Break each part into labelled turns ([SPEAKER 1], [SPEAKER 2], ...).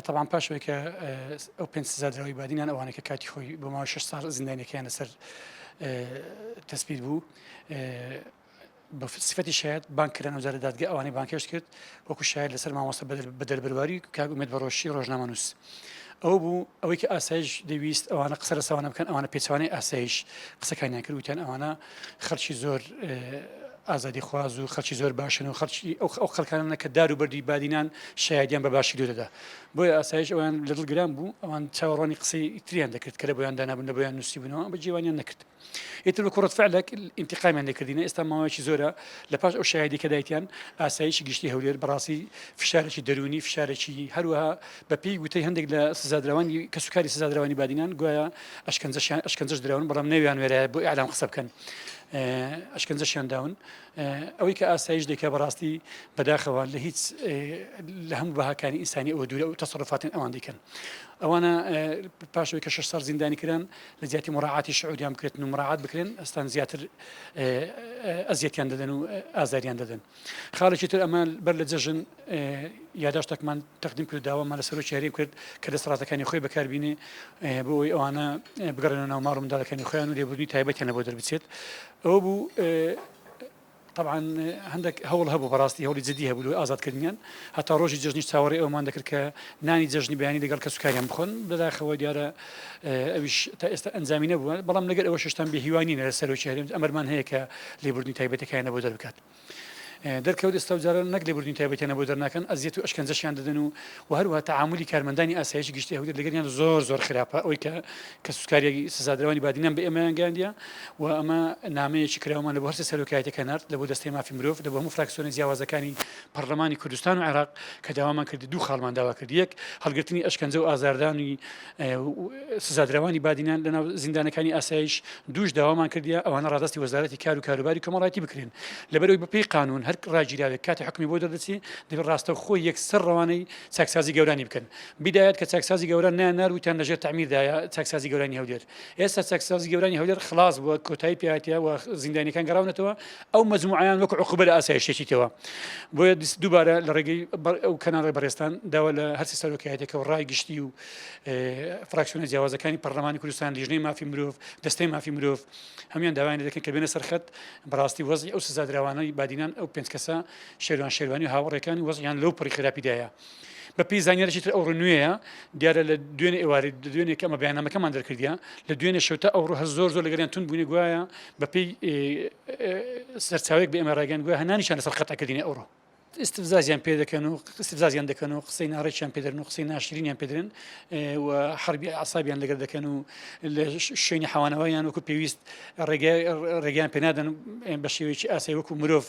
[SPEAKER 1] تەبعەن پاش ئەوەی کە ئەو پێنج سزا دراوی بادینان ئەوانەی کە کاتی خۆی بۆ ماوەی شەش ساڵ زیندانیەکەیان لەسەر تەسبیت بوو بە سفەتی شاید بانکران و جارە دادگە ئەوانی بانکێش کرد وەکو شاید لەسەر مامۆستا بەدەر بەرواری کاک ئومێد بەڕۆشی ڕۆژنامەنووس ئەو بوو ئەوەی کە ئاسایش دەویست ئەوانە قسە لەسەوانە بکەن ئەوانە پێچوانەی ئاسایش قسەکانیان کردوتیان ئەوانە خەڵکی زۆر ئازادی خواز و خەڵکی زۆر باشن و خەڵکی ئەو ئەو خەڵکانە کە دار و بەردی بادینان شایدیان بە باشی دەدا بۆیە ئاسایش ئەوان لە دڵ گران بوو ئەوان چاوەڕوانی قسەی تریان دەکرد کە لە بۆیان دانابوون لە بۆیان نووسی بنەوە بە جیوانیان نەکرد ئیتر بە کوڕەت فعلێک ئینتقامیان لەکردینە ئێستا ماوەیەکی زۆرە لە پاش ئەو شایدی کە دایتیان ئاسایشی گشتی هەولێر بەڕاستی فشارێکی دەرونی فشارێکی هەروەها بەپێی وتەی هەندێک لە سزادراوانی کەسوکاری سزادراوانی بادینان گوایە ئەشکەنجەشیان ئەشکەنجەش دراون بەڵام نەویان وێرایە بۆ ئەعلام قسە بکەن ئەشکەنجەشیان داون ئەوەی کە ئاسایش دێکە بەڕاستی بەداخەوە لە هیچ لە هەموو بەهاکانی ئینسانی ئەوە دوورە و تەسەڕفاتن ئەوان دیکەن ئەوانە پاشەوەی کە شش سەر زیندانی کران لە زیاتی مڕعاتی شعودیان بکرێت و مڕعات بکرێن ئەستان زیاتر ئەزیەتیان دەدەن و ئازاریان دەدەن. خاڵێکی تر ئەمان بەر لە جەژن یاداشتەکمان تەقدیم کرد داوامان لە سەرۆکی هەریم کرد کە دەسەڵاتەکانی خۆی بەکاربینێ بۆ ئەوی ئەوانە بگەڕێنە ناو ماڵ منداڵەکانی خۆیان و لێبوردنی تایبەتیان لە بۆ دەربچێت ئەوە بوو طبعاان هەندێک هەوڵ هەبوو بەڕاستی هەوڵی جددی هەبوو لە ئازادکردنیان هەتا ڕۆژی جژنی چاوەڕی ئەومان دەکرد کە نانی جژنی بیانی لەگەڵ کەسوکاریان بخۆن لەداخەوە دیارە ئەویش تا ئێستا ئەنجامی نەبووە، بەڵام لەگەر ئەوەش هێشتان بێ هیوا نین لە سەرۆکی هەرێم، ئەمەرمان هەیە کە لێبوردنی تایبەتەکەیانە بۆ دەربکات. دەرکەوت ئێستا و جاران نەک لێبوردنی تایبەتیانە بۆ دەرناکەن، ئەزیەت و ئەشکەنجەشیان دەدەن و و هەروەها تەعامولی کارمەندانی ئاسایشی گشتی هەولێر لەگەریان زۆر زۆر خراپە، ئەوەی کە کە سوتکاریی سزادراوانی بادینان بە ئێمەیان گەیاندیە و ئەمە نامەیەکی کراوەمان لە بۆ هەرسێ سەرۆکایەتیەکە نارد، لە بۆ دەستەی مافی مرۆڤ، لە بۆ هەموو فراکسیۆنە جیاوازەکانی پەڕلەمانی کوردستان و عێراق کە داوامان کرد دوو خاڵمان داوا کرد یەک هەڵگرتنی ئەشکەنجە و ئازاردانی سزادراوانی بادینان لەناو زیندانەکانی ئاسایش دوش داوامان کردیا ئەوانە ڕادستی وەزارەتی کار و کاروباری کۆمەڵایەتی بکرێن لەبەرەوەی بەپی قانون هەر ڕاگیراوێک کاتی حکمی بۆ دەردەچی دەبێت ڕاستە خۆ یەکسەر ڕەوانەی چاکسازی گەورانی بکەن بدایەت کە چاکسازی گەورە نیان ناروتیان لەژێر تعمیردایە چاکسازی گەورانی هەولێر ئێستا چەکساز گەورانی هەولێر خلاص بووە کۆتایی پیاتە و زیندانەکان گەڕاونەتەوە ئەو مجموعیان وەک عقوبە لە ئاسایشتێکیتەوە بۆیە دووبارە لە ڕێگەی ئەو کەناڵی بەڕێستان داوا لە هەرسی سەرۆکایەتەکە و ڕای گشتی و فراکسیۆنە جیاوازەکانی پەرلەمانی کوردستان لیژنەی مافی مرۆڤ دەستەی مافی مرۆڤ هەمان داوایان دەکەن کە بێنە سەرخەت بەڕاستی وەزی ئەو سزادراوانەی بادینان ئەو پێنج کەسە شێوان شێوانی هاوڕێکانی وەزیان لەو پڕی خراپیدایە بە پێی زانیاریی تر ئەوڕۆ نوێیە دیارە لە دوێنێ ئێواری دوێنێک ئەمە بەیانامەکەمان دەرکردە لە دوێنێ شوتە ئەوڕۆ هەر زۆر زۆر لەگەریان تون بوونی گوایە بە پێی سەرچاوێک بە ئێمە ڕێگەن گوە هەنانیشان لەسەر قەتەکردنی ئەوڕۆ استفزازیان پێ دەکەن و استفزازیان دەکەن و قسەی ناڕێکیان پێدرن و قسەی ناشرینیان پێدرن و حربی عسابیان لەگەر دەکەن و لە شوێنی حوانەوەیان وەکو پێویست ڕێگەیان پێنادەن بە شێوەیەکی ئاسای وەکو مرۆڤ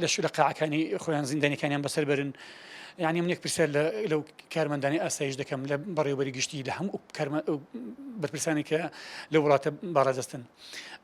[SPEAKER 1] لە شو لە قاعەکانی خۆیان زیندانەکانیان بەسەر بەرن یانی منێک پرسیار لەو کارمەندانی ئاسایش دەکەم لە بەڕێوبەری گشتی لە هەموو بەرپرسانی کە لە وڵاتە باڕادەستن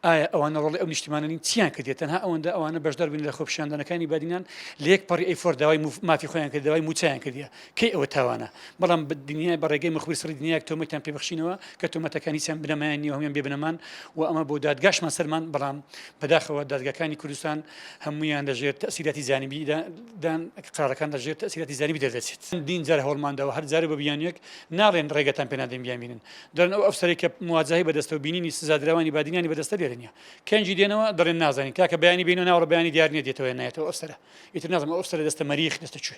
[SPEAKER 1] ئایا ئەوانە ڕۆڵی ئەو نیشتمانانی چیان کردێت تەنها ئەوەندە ئەوانە بەشدار بوون لە خۆپیشاندانەکانی بادینان لە یەک پەڕی ئەیفۆر داوای مافی خۆیان کرد داوای موچیان کردە کەی ئەوە تاوانە بەڵام بە دنیای بەڕێگەی مخبری سڕی دنیاک تۆمەتیان پێبخشینەوە کە تۆمەتەکانی چەند بنەمایان نیە هەمیان بێبنەمان و ئەمە بۆ دادگاشمان سەرمان بەڵام بەداخەوە دادگەکانی کوردستان هەمویان لەژێر تەسیراتی زانبیدا دان قارەکان لە ژێر تەئسیراتی زەریبی دەردەچێت چەندین جار هەوڵمان داوە هەر جارە بە بیانویەک ناڵێن ڕێگەتان پێ نادەین بیانبینن دەڵێن ئەو ئەفسەرەی کە مواجهەی بەدەستە و بینینی سزادراوانی بادینانی بەدەستە لێرە نییە کەنجی دێنەوە دەڵێن نازانین تاکە بەیانی بینەوە ناوەڕ بەیانی دیار نییە دێتەوە نایەتەوە ئەفسەرە ئیتر نازم ئەو ئەفسەرە دەستە مەریخ دەستە کوێ